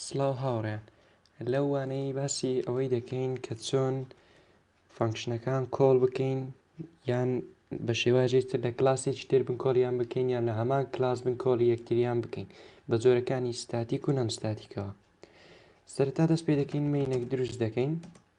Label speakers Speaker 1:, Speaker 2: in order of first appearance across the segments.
Speaker 1: سڵاو هاوڕێیان لەو وانەی باسی ئەوەی دەکەین کە چۆن فەنکشنەکان کۆڵ بکەین یان بە شێواژی تر لە کلاسێکی تر بن کۆڵیان بکەین یان لە هەمان کلاس بن کۆڵی یەکتریان بکەین بە جۆرەکانی ستاتیک و نەمستاتیکەوە سەرتا دەست پێ دەکەین مینێک دروست دەکەین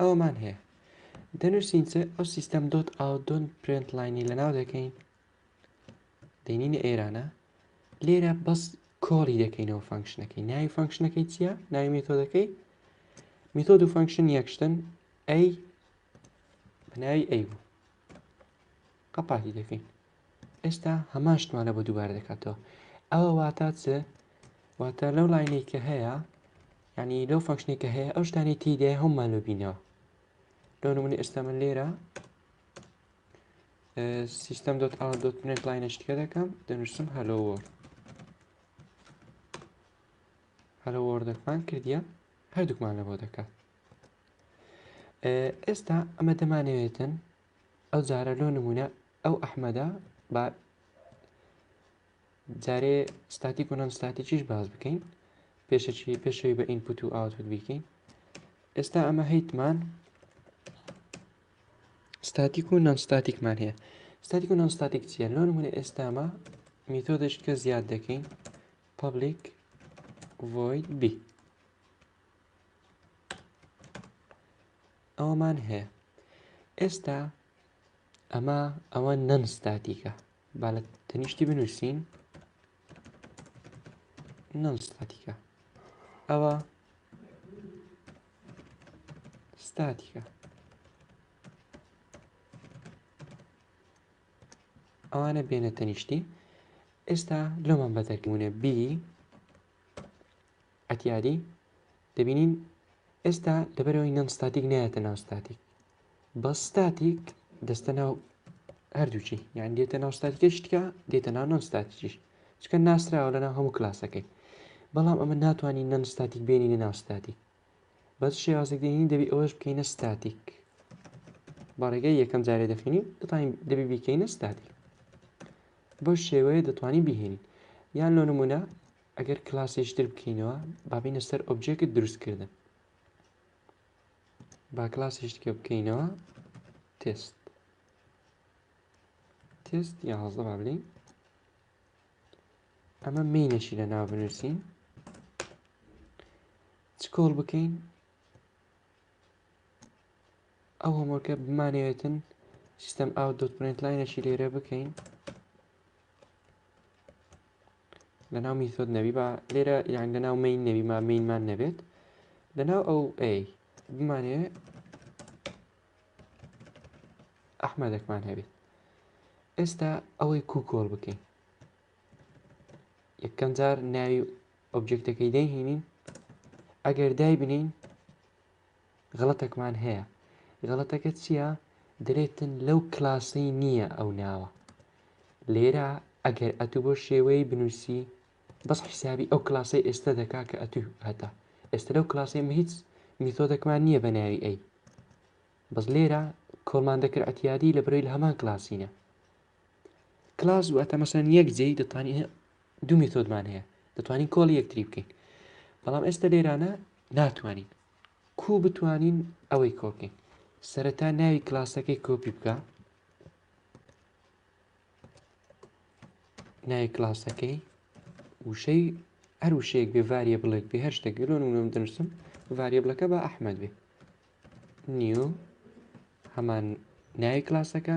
Speaker 1: ئەومان هەیە دەنووسین چ ئەو سیستەم دۆت ئاو دۆن پرنت لاینی لە ناو دەکەین دێنینە ئێرانە لێرە بەس کۆڵی دەکەینەوە فەنکشنەکەی ناوی فەنکشنەکەی چییە ناوی مێتۆدەکەی میتۆد و فەنکشن یەکشتن ئەی بەناوی ئەی بوو قەپاتی دەکەین ئێستا هەمان شتمانە بۆ دووبارە دەکاتەوە ئەوە واتە چ واتە لەو لاینەی کە هەیە ینی لەو فەنکشنی کە هەیە ئەو شتانی تیدای هەمومان لە بینەوە لۆ نمونی ئێستا من لێرە سیستم دۆت ئا دۆت پرنت لاینە شتکە دەکەم دەنووسم هەلۆوەر هەلە وەردەکمان کردیە هەردووکمان لەەوە دەکات ئێستا ئەمە دەمانەوێتن ئەو جارە لۆ نمونە ئەو ئەحمەدە با جارێ ستاتیک و نان ستاتیکیش باز بکەین پێشەکی پێشەوی بە ئینپوت و ئاوتوت بیکەین ئێستا ئەمە هەیتمان ستاتیک و نان ستاتیکمان هەیە ستاتیک و نان ستاتیک چیە لۆ نمونە ئێستامە میتۆدش کە زیاد دەکەین پبلیک ڤۆید بی ئەوەمان هەیە ئێستا ئەمە ئەوە نەنستاتیکە با لە تەنیشتی بنووسین نەنستاتیکە ئەوە ستاتیکە ئەوانە بێنە تەنیشتی ئێستا لۆمان بەدەرکەونە بی عەتیاری، دەبینین ئێستا لەبەرەوەی نەن ستاتیک نایەتە ناو ستاتیک بە ستاتیک دەستە ناو هەردووچی یان دێتە ناو ستاتیکە شتکە دێتە ناو نەن ستاتیش چکە ناسراوە لەنا هەموو کلاسەکەی بەڵام ئەمە ناتوانانی نەن ستاتیک بێنی لە ناو ستاتیک بەس شێوازێک دێنی دەبی ئەوەش بکەینە ستاتیک بەڕێگە یەکەم جارێ دەخینی دەتوانین دەبی بیکەینە ستاتیک بەو شێوەیە دەتوانین بهێنین یان لۆ نمونە ئەگەر کلاسێکی تر بکەینەوە با بینە سەر ئۆبجێکت دروستکردن با کلاسێکە بکەینەوە تست تست یازدە با بلین ئەمە مینەشی لە ناو بنووسین چ کۆڵ بکەین ئەو هەمۆکە بمانەوێتن سیستەم ئاو دۆت پرنت لاینەشی لێرە بکەین لەناو میثۆد نەبی با لێرە یان لەناو مین نەبی ما مینمان نەبێت لەناو ئەو ئەی بمانێ ئەحمەدەکمان هەبێت ئێستا ئەوەی کوکۆڵ بکەین یەکەم جار ناوی ئۆبجێکتەکەی دەهینین ئەگەر دای بنین غەڵەتەکمان هەیە غەڵەتەکە چییە دەرێتن لەو کلاسەی نییە ئەو ناوە لێرە ئەگەر ئەتو بۆ شێوەی بنووسی بەس حیسابی ئەو کلاسەی ئێستا دەکا کە ئەتو هەتا ئێستا لەو کلاسەی هیچ میتۆدەکمان نییە بە ناوی ئەی بەس لێرە کۆڵمان دەکرد ئەتیادی لە برۆی لە هەمان کلاسینە کلاس واتە مەسەن یەک جێی دەتوانین دوو مێتۆدمان هەیە دەتوانین کۆڵ یەکتری بکەین بەڵام ئێستا لێرانە ناتوانین کو بتوانین ئەوەی کۆکەین سەرەتا ناوی کلاسەکەی کۆپی بکە ناوی کلاسەکەی وشەی هەر وشەیەک بێ ڤاریە بڵێک بێ هەر شتێک گەلۆن وم دەنووسم ڤاریە بڵەکە بە ئەحمد بێ نیو هەمان ناوی کلاسەکە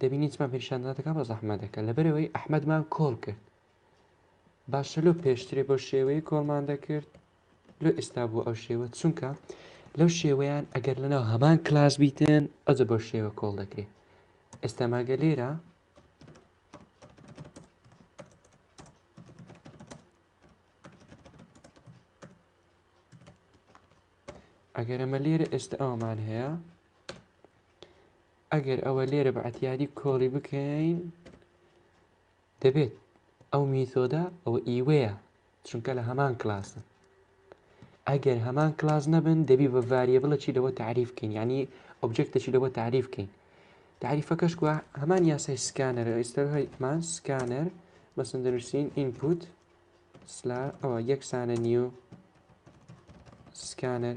Speaker 1: دەبینین چما پێشانداتەکە بە زەحمە دەکە لەبەرەوەی ئەحمەدمان کۆڵ کرد باشە لۆ پێشترێ بۆ شێوەیە کۆڵمان دەکرد لۆ ئێستا بوو ئەو شێوە چونکە لەو شێوەیان ئەگەر لەناو هەمان کلاس بیتن ئەجە بۆ شێوە کۆڵ دەکرێت ئێستا ماگە لێرە ئەگەر ئەمە لێرە ئێستا ئەومان هەیە ئەگەر ئەوە لێرە بە عتیادی کۆڵی بکەین دەبێت ئەو میتۆدە ئەوە ئیوەیە چونکە لە هەمان کلاسن ئەگەر هەمان کلاس نەبن دەبی بە ڤاریە بڵەکی لەوە تعریفکەین ینی ئۆبجێکتەکی لەوە تعریفکەین تعریفەکەش کووە هەمان یاسای سکانەر ئێستەمان سکانەر بەسن دەنووسین ئینپوت سلا ئەوە یەکسانە نیو سکانەر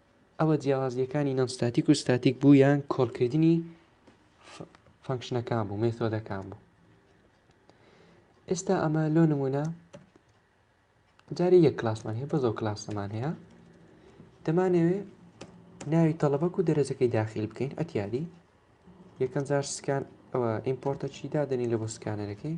Speaker 1: ئەوە جیاوازییەکانی نان ستاتیک و ستاتیک بوو یان کۆڵکردنی فەنکشنەکان بوو مێتۆدەکان بوو ئێستا ئەمە لۆ نمونە جارێ یەک کلاسمان هەیە بەزۆ کلاسەمان هەیە دەمانەوێ ناوی تەڵەبەک و دەرەجەکەی داخل بکەین ئەتیادی یەکەم جار سکان ئەوە ئیمپۆرتە چیدا دەنی لە بۆ سکانەرەکەی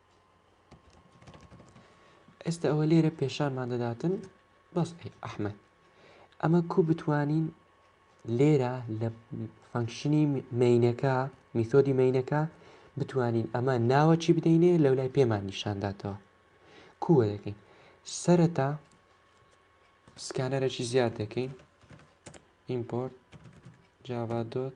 Speaker 1: ئێستە ئەوە لێرە پێشانمان دەداتن بەس ئەحمد ئەمە کو بتوانین لێرە لە فەنکشنی مینەکە میتۆدی مینەکە بتوانین ئەمە ناوە چی بدەینێ لەو لای پێمان نیشانداتەوە کووە دەکەین سەرەتا سکانەرەی زیاد دەکەین ئیمپۆرت جاوادۆت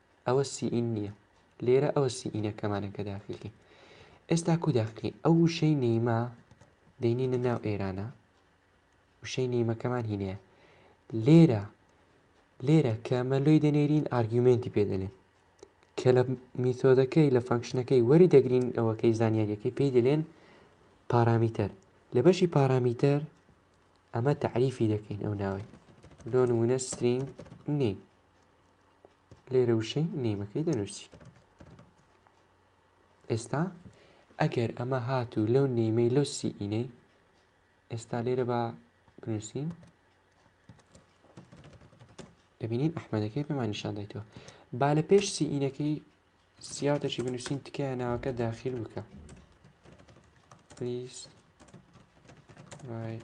Speaker 1: ئەوە سیئین نییە لێرە ئەوە سیئینەکەمانە کە داخلکەین ئێستا کو داخلین ئەو وشەی نیمە دەینینە ناو ئێرانە وشەی نیمەکەمان هینەیە لێرە لێرە کە مەلۆی دەنێرین ئارگومنتی پێدەێن کە لە میتۆدەکەی لە فەنکشنەکەی وەری دەگرین ئەوەکەی زانیاریەکەی پێی دەلێن پارامیتەر لە بەشی پارامیتەر ئەمە تعریفی دەکەین ئەو ناوەی لۆ نمونە سترینگ نیم لێرە وشەی نیمەکەی دەنووسی ئێستا ئەگەر ئەمە هاتوو لەو نیمەی لەو سیئینەی ئێستا لێرە بە بنووسین دەبینین ئەحمەدەکەی پێمان نیشان دایتەوە با لە پێش سیئینەکەی سیاتەشی بنووسین تکایە ناوەکە داخل بکە پلیس right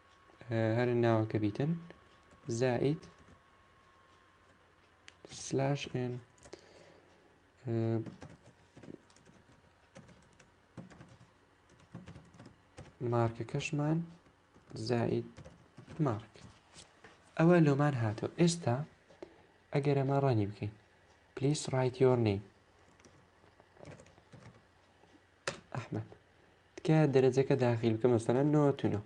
Speaker 1: هەر ناوەکە بیتن زائید سلاش ئێن مارکە کەشمان زائید مارک ئەوە لۆمان هاتۆ ئێستا ئەگەر ئەمە ڕەنی بکەین پلیس ڕایتیۆرنی ئەحمد تکایە دەرەجەکە داخیل بکە مەسەرەن نۆ تو نۆ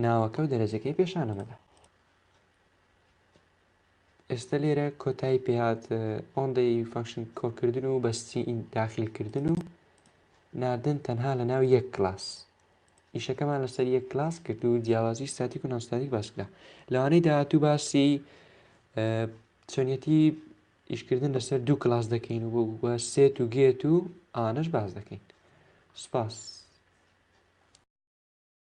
Speaker 1: ناوەکە و دەرەجەکەی پێشانە مەدە ئێستا لێرە کۆتایی پێات ئۆندەی فەنکشن کۆکردن و بەستی ئین داخیلکردن و ناردن تەنها لە ناو یەک کلاس ئیشەکەمان لەسەر یەک کلاس کرد و جیاوازی ستاتیک و ناستاتیک باسکرا لەوانەی داهاتوو باسی چۆنیەتی ئیشکردن لەسەر دوو کلاس دەکەین و وە سێت و گێت و ئانەش باس دەکەین سوپاس.